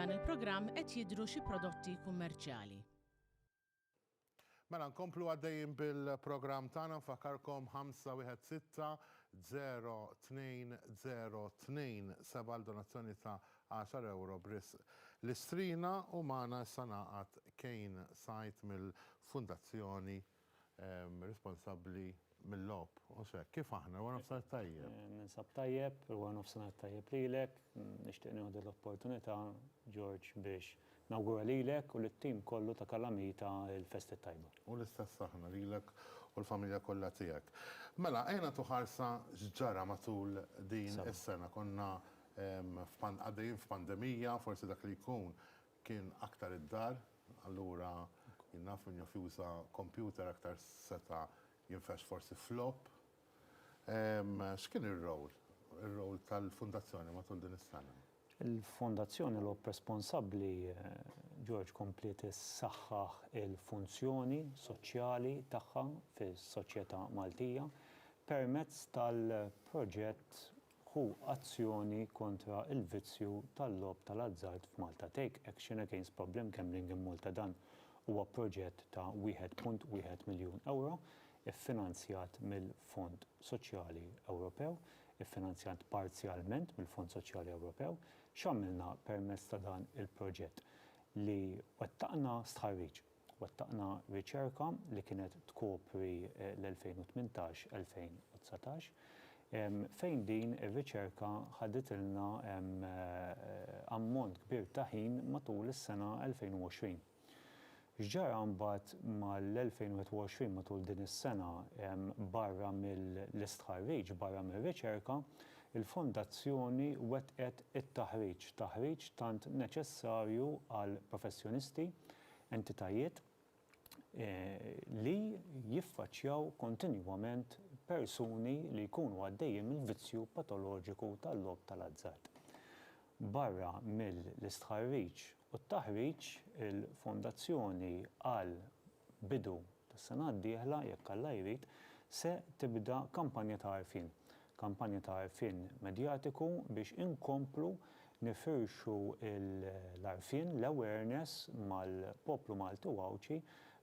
F'dan il-programm qed jidhru xi prodotti kummerċjali. Mela nkomplu għaddejjin bil-programm tagħna nfakkarkom 516-0202 għal donazzjoni ta' €10 b'risq l-istrina u magħna issa ngħaqad Kane Sajt mill-Fundazzjoni responsabbli mil-logħob. Josè, kif aħna? Wara nofsinhar tajjeb. Ninsab tajjeb, wara nofsinhar tajjeb lilek. Nixtieq nieħu din l-opportunità, George, biex nawgura lilek u lit-tim kollu ta' Kalamita l-festa t-tajba. U l-istess aħna lilek u l-familja kollha tiegħek. Mela, ejja nagħtu ħarsa x'ġara matul din is-sena. Konna għaddejjin f'pandemija, forsi dak li jkun Kien aktar id-dar, allura jien naf min jaf juża kompjuter aktar seta' jinfexx forsi f'logħob. X'kien ir-role, ir-role tal-Fundazzjoni matul din is-sena? Il-Fondazzjoni Logħob Responsabbli, George, kompliet issaħħaħ il-funzjoni soċjali tagħha fis-soċjetà Maltija permezz tal-proġett Ħu azzjoni kontra l-vizzju tal-logħob tal-azzard f'Malta, Take Action Against Problem Gambling in Malta Dan huwa proġett ta' wieħed punt wieħed miljun ewro iffinanzjat mill-Fond Soċjali Ewropew, iffinanzjat parzjalment mill-Fond Soċjali Ewropew. X'għamilna permezz ta' dan il-proġett? Li wettaqna stħarriġ. Wettaqna riċerka li kienet tkopri l-2018-2019, fejn din ir-riċerka ħaditilna ammont kbir ta' ħin matul is-sena 2020. X'ġara mbagħad mal-2021 matul din is-sena? Barra mill-istħarriġ, barra mir-riċerka, il-Fondazzjoni wettqet it-taħriġ, taħriġ tant neċessarju għall-professjonisti entitajiet li jiffaċċjaw kontinwament persuni li jkunu għaddejjin mill-vizzju patoloġiku tal-logħob tal-azzard. Barra mill-istħarriġ u t-taħriġ, il-Fondazzjoni għal bidu tas-sena d-dieħla, jekk Alla jrid, se tibda kampanja ta' għarfien Kampanja ta' għarfien medjatiku biex inkomplu nifirxu l-għarfien, l-awareness, mal-poplu Malti u Għawdxi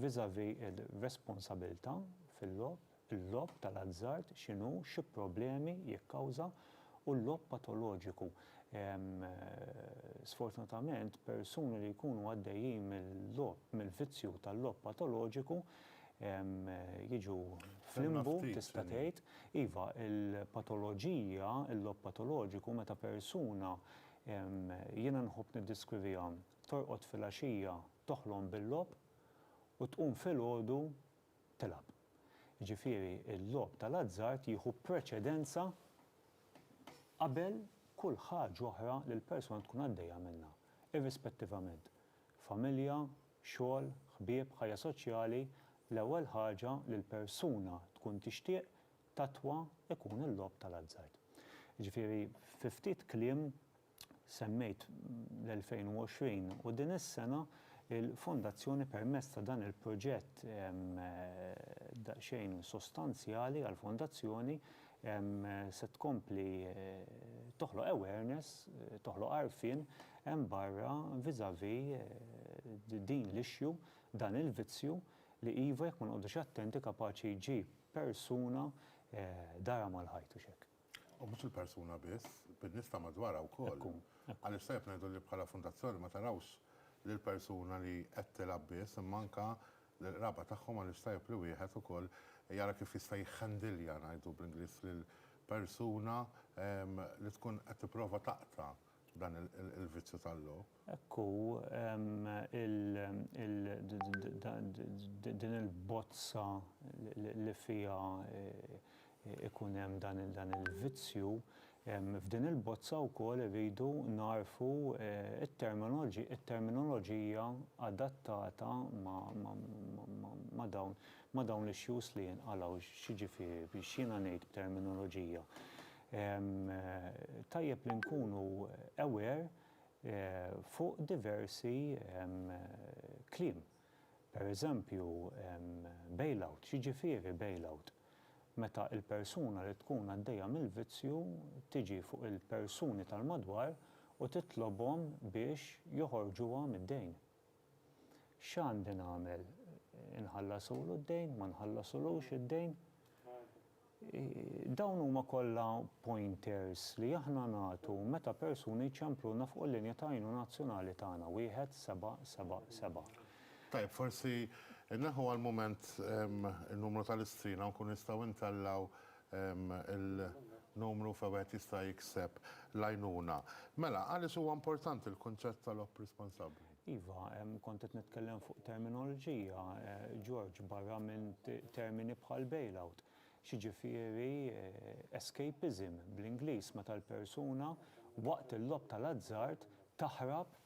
vis-à-vis il-responsabilità fil-logħob, il-logħob tal-azzard x'inhu, xi problemi jikkawża u l-logħob patoloġiku. Sfortunatament persuni li jkunu għaddejjin mill-logħob, mill-vizzju tal-logħob patoloġiku jiġu flimbu tista' tgħid. Iva, il-patoloġija, il-logħob patoloġiku meta persuna jiena nħobb niddeskriviha torqod filgħaxija toħlom bil-logħob u tqum filgħodu tilgħab. Jiġifieri l-logħob tal-azzard jieħu preċedenza qabel kull ħaġa oħra li l-persuna tkun għaddejja minnha, irrispettivament. Familja, xogħol, ħbieb, ħajja soċjali, l-ewwel ħaġa li l-persuna tkun tixtieq tattwa jkun il-logħob tal-azzard. Jiġifieri fi ftit kliem semmejt l-2020 u din is-sena l-Fondazzjoni permezz ta' dan il-proġett daqsxejn sostanzjali għall-Fondazzjoni se tkompli toħloq awareness, toħloq għarfien hemm barra vis-à-vis din l-issue, dan il-vizzju li iva jekk ma noqogħdux attenti kapaċi jġib persuna darha mal-ħajt u x'hekk. U mhux il-persuna biss, bin-nies ta' madwarha wkoll. Hekk hu, hekk hu. Għaliex tajjeb ngħidu li bħala fundazzjoni ma tarawx lill-persuna li qed tilgħab biss imma anke l-qraba tagħhom għaliex tajjeb li wieħed ukoll jara kif jista' jikhandilja ngħidu bl-Ingliż lil persuna li tkun qed tipprova taqta' dan il-vizzju tal-logħob. Hekk hu, din il-bozza li fiha ikun hemm dan il-vizzju, f'din il-bozza wkoll irridu nagħrfu t-terminoloġija adattata ma' dawn l-issues li jinqalgħu. X'jiġifieri, x'jiena ngħid b'terminoloġija? Tajjeb li nkunu aware fuq diversi kliem. Per eżempju, bailout, x'jiġifieri bailout? Meta il-persuna li tkun għaddejja mill-vizzju tiġi fuq il-persuni tal-madwar u titlobhom biex joħorġuha mid-dejn. X'għandi nagħmel? Inħallasulu d-dejn? Ma nħallasulux id-dejn? Dawn huma kollha pointers li aħna nagħtu meta persuni jċempluna fuq il-linja ta' għajnuna nazzjonali tagħna, wieħed seba' seba' seba'. Tajjeb, forsi nneħħu għall-mument in-numru tal-istrina u nkunu nistgħu ntellgħu il-numru fejn wieħed jista' jikseb l-għajnuna. Mela, għaliex huwa importanti l-kunċett tal-opp responsabbli? Iva, kont qed nitkellem fuq terminoloġija, George, barra minn termini bħal bailout. X'jiġifieri escapism bl-Ingliż meta l-persuna waqt il-logħob tal-azzard taħrab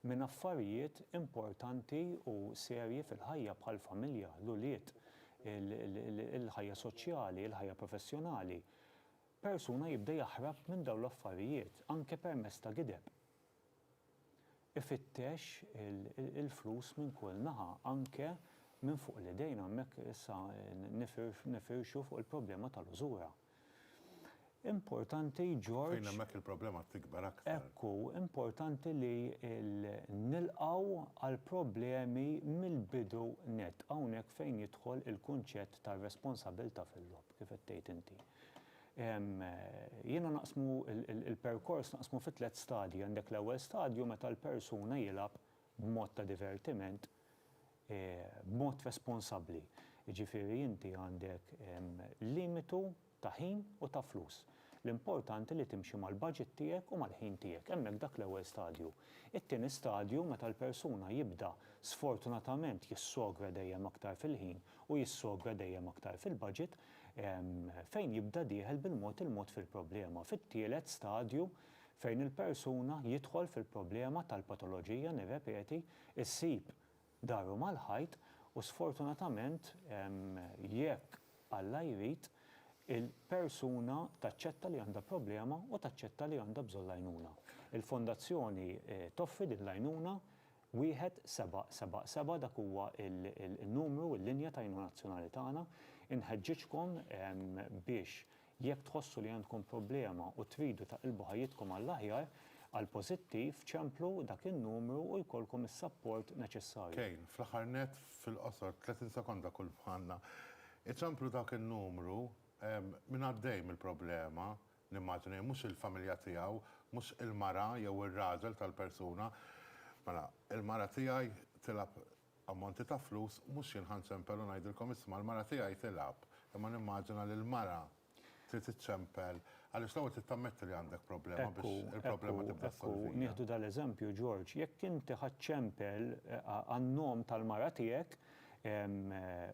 minn affarijiet importanti u serji fil-ħajja bħall-familja, l-ulied, il-ħajja soċjali, il-ħajja professjonali. Persuna jibda jaħrab minn dawn l-affarijiet anke permezz ta' gideb. Ifittex il-flus minn kull naħa, anke minn fuq l-idejn, hemmhekk issa nifirxu fuq il-problema tal-użura. Importanti, George. Fejn hemmhekk il-problema tikber aktar. Ekku, importanti li nilqgħu għall-problemi mill-bidu nett. Hawnhekk fejn jidħol il-kunċett tar-responsabilità fil-logħob, kif qed tgħid inti. Jiena naqsmu l-perkors naqsmu fi tliet stadji, għandek l-ewwel stadju meta l-persuna jilgħab b'mod ta' divertiment b'mod responsabbli. Jiġifieri inti għandek limitu ta' ħin u ta' flus. L-importanti li timxi mal-budget tiegħek u mal-ħin tiegħek. Hemmhekk dak l-ewwel stadju. It-tieni stadju meta l-persuna jibda sfortunatament jissogra dejjem aktar fil-ħin u jissokra dejjem aktar fil-baġit fejn jibda dieħel bil-mod il-mod fil-problema, fit-tielet stadju fejn il-persuna jidħol fil-problema tal-patoloġija, nirrepeti, issib daru mal-ħajt u sfortunatament jekk Alla jrid il-persuna taċċetta li għandha problema u taċċetta li għandha bżonn l-għajnuna. Il-Fondazzjoni toffri din l-għajnuna Wieħed seba' seba' seba' dak huwa l-numru, il-linja ta' għajnuna nazzjonali tagħna. Inħeġġiġkom biex jekk tħossu li għandkom problema u tridu taqilbu ħajjitkom għall-aħjar, għall-pożittiv, ċemplu dak in-numru u jkollkom is-sapport neċessarju. Kejn, fl-aħħar nett, fil-qosor, 30 sekonda kull bħalna, iċemplu dak in-numru, minn għaddej mill-problema, Nimmaġina, mhux il-familja tiegħu, mhux il-mara jew ir-raġel tal-persuna. Mela, il-mara tiegħi tilgħab ammonti ta' flus, mhux jien ħa nċempel u ngħidilkom isma' l-mara tiegħi tilgħab, imma nimmaġina li l-mara trid iċċempel, għaliex l-ewwel trid tammetti li għandek problema biex il-problema tibda ssolvija. Ekku, ekku, nieħdu dal-eżempju, George, jekk inti ħa ċċempel għan-nom tal-mara tiegħek,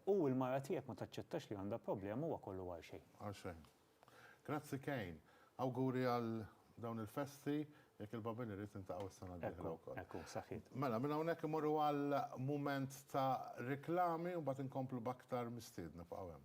u l-mara tiegħek ma taċċettax li għandha problema, huwa kollu għal xejn. Għal xejn. Grazzi Kejn. Awguri għal dawn il-festi, jekk il-Babin irid niltaqgħu s-sena d-dieħla wkoll. Hekk hu, saħħiet. Mela, minn hawnhekk immorru għal mument ta' riklami u mbagħad inkomplu b'aktar mistiedna. Bqgħu hemm.